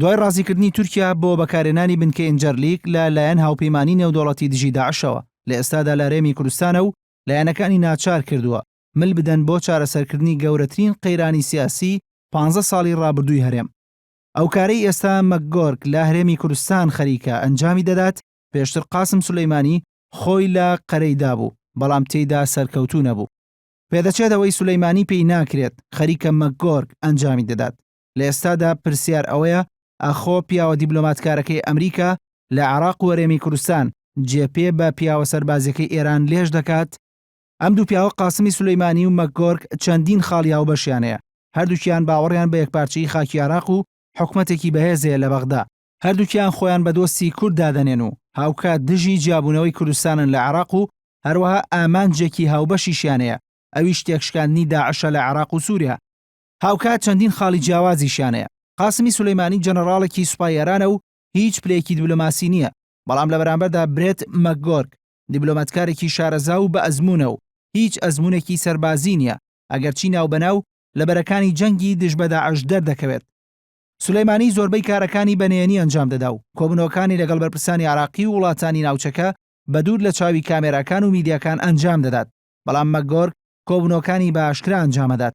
دوای ڕازیکردنی تورکیا بۆ بەکارهێنانی بنکەی ئینجەرلیک لە لایەن هاوپەیمانیی نێودەوڵەتی دژی داعشەوە، لە ئێستادا لە هەرێمی کوردستانە و لایەنەکانی ناچار کردووە مل بدەن بۆ چارەسەرکردنی گەورەترین قەیرانی سیاسیی پانزە ساڵی ڕابردووی هەرێم. ئەو کارەی ئێستا مەکگۆرک لە هەرێمی کوردستان خەریکە ئەنجامی دەدات، پێشتر قاسم سولەیمانی خۆی لە قەرەی دابوو، بەڵام تێیدا سەرکەوتوو نەبوو. پێدەچێت ئەوەی سولەیمانی پێی ناکرێت، خەریکە مەکگۆرک ئەنجامی دەدات. لە ئێستادا پرسیار ئەوەیە ئاخۆ پیاوە دیبلۆماتکارەکەی ئەمریکا لە عێراق و هەرێمی کوردستان جێ پێ بە پیاوە سەربازیەکەی ئێران لێژ دەکات؟ ئەم دوو پیاوە قاسمی سولەیمانی و مەکگۆرک چەندین خاڵی هاوبەشیان هەیە، هەردووکیان باوەڕیان بە یەکپارچەیی خاکی عێراق و حکومەتێکی بەهێز هەیە لە بەغدا، هەردووکیان خۆیان بە دۆستی کورد دادەنێن و هاوکات دژی جیابوونەوەی کوردستانن لە عێراق و هەروەها ئامانجێکی هاوبەشیشیان هەیە ئەویش تێکشکاندنی داعشە لە عێراق و سوریا. هاوکات چەندین خاڵی جیاوازیشیان هەیە. قاسمی سولەیمانی جەنەڕاڵێکی سوپای ئێرانە و هیچ پلەیەکی دیبلۆماسی نییە، بەڵام لە بەرامبەردا برێت مەکگۆرک دیبلۆماتکارێکی شارەزا و بەئەزموونە و هیچ ئەزموونێکی سەربازیی نییە، ئەگەرچی ناوبەناو لە بەرەکانی جەنگی دژ بە داعش دەردەکەوێت. سولەیمانی زۆربەی کارەکانی بە نهێنی ئەنجام دەدا و کۆبوونەوەکانی لەگەڵ بەرپرسانی عێراقی و وڵاتانی ناوچەکە بە دوور لە چاوی کامێراکان و میدیاکان ئەنجام دەدات، بەڵام مەکگۆرک کۆبوونەوەکانی بە ئاشکرا ئەنجام ئەدات.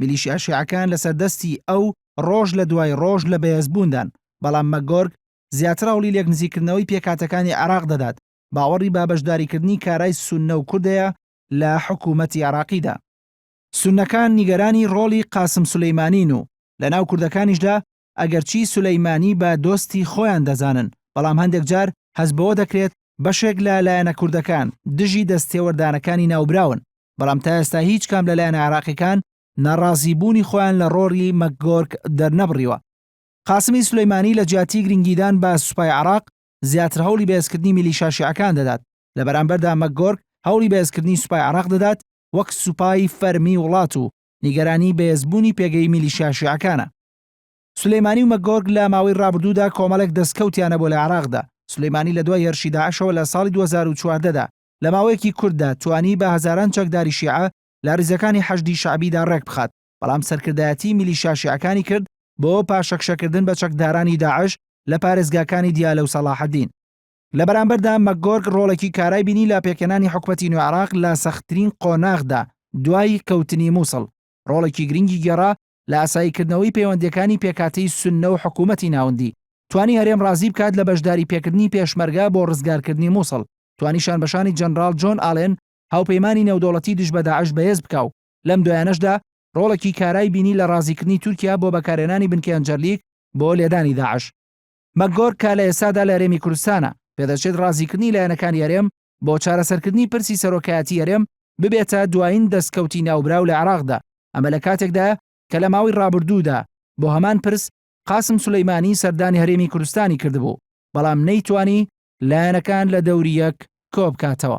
میلیشیا شیعەکان لەسەر دەستی ئەو ڕۆژ لە دوای ڕۆژ لە بەهێزبووندان، بەڵام مەکگۆرگ زیاتر هەوڵی لێکنزیکردنەوەی پێکهاتەکانی عێراق دەدات، باوەڕی بە بەشداریکردنی کارای سوننە و کوردەیە لە حکوومەتی عێراقیدا. سوننەکان نیگەرانی ڕۆڵی قاسم سولەیمانین و لەناو کوردەکانیشدا ئەگەرچی سولەیمانی بە دۆستی خۆیان دەزانن، بەڵام هەندێک جار هەست بەوە دەکرێت بەشێک لە لایەنە کوردەکان دژی دەستتێوەردانەکانی ناوبراون، بەڵام تا ئێستا هیچ کام لە لایەنە عێراقیەکان ناڕازیبوونی خۆیان لە ڕۆڵی مەکگۆرک دەرنەبڕیوە. قاسمی سولەیمانی لە جیاتی گرنگیدان بە سوپای عێراق، زیاتر هەوڵی بەهێزکردنی میلیشا شیعەکان دەدات، لە بەرامبەردا مەکگۆرک هەوڵی بەهێزکردنی سوپای عێراق دەدات وەک سوپای فەرمی وڵات و نیگەرانی بەهێزبوونی پێگەی میلیشیا شیعەکانە. سولەیمانی و مەکگۆرک لە ماوەی ڕابردوودا کۆمەڵێک دەستکەوتیان هەبووە لە عێراقدا. سولەیمانی لە دوای هێرشی داعشەوە لە ساڵی دوو هەزار و چواردە دا، لە ماوەیەکی کورتدا توانی بە هەزاران چەکداری شیعە لە ڕیزەکانی حەشدی شەعبیدا ڕێکبخات، بەڵام سەرکردایەتیی میلیشیا شیعەکانی کرد بۆ پاشەکشەکردن بە چەکدارانی داعش لە پارێزگاکانی دیالە و سەڵاحەدین. لە بەرامبەردا مەکگۆرک ڕۆڵێکی کارای بینی لە پێکهێنانی حکومەتی نوێ عێراق لە سەختترین قۆناغدا دوای کەوتنی مووسڵ، ڕۆڵێکی گرنگی گێڕا لە ئاساییکردنەوەی پەیوەندییەکانی پێکهاتەی سوننە و حکوومەتی ناوندی، توانی هەرێم ڕازی بکات لە بەشداریپێکردنی پێشمەرگە بۆ ڕزگارکردنی مووسڵ، توانی شانبەشانی جەنراڵ جۆن ئالێن، هاوپەیمانی نێودەوڵەتی دژ بە داعش بەهێز بکا و لەم دوایانەشدا ڕۆڵێکی کارای بینی لە ڕازیکردنی تورکیا بۆ بەکارهێنانی بنکەی هەنجەرلیک بۆ لێدانی داعش. مەکگۆرک کە لە ئێستادا لە هەرێمی کوردستانە، پێدەچێت ڕازیکردنی لایەنەکانی هەرێم بۆ چارەسەرکردنی پرسی سەرۆکایەتیی هەرێم ببێتە دوایین دەستکەوتی ناوبراو لە عێراقدا، ئەمە لە کاتێکدایە کە لە ماوەی ڕابردوودا بۆ هەمان پرس قاسم سولەیمانی سەردانی هەرێمی کوردستانی کردبوو، بەڵام نەیتوانی لایەنەکان لە دەوری یەک کۆبکاتەوە.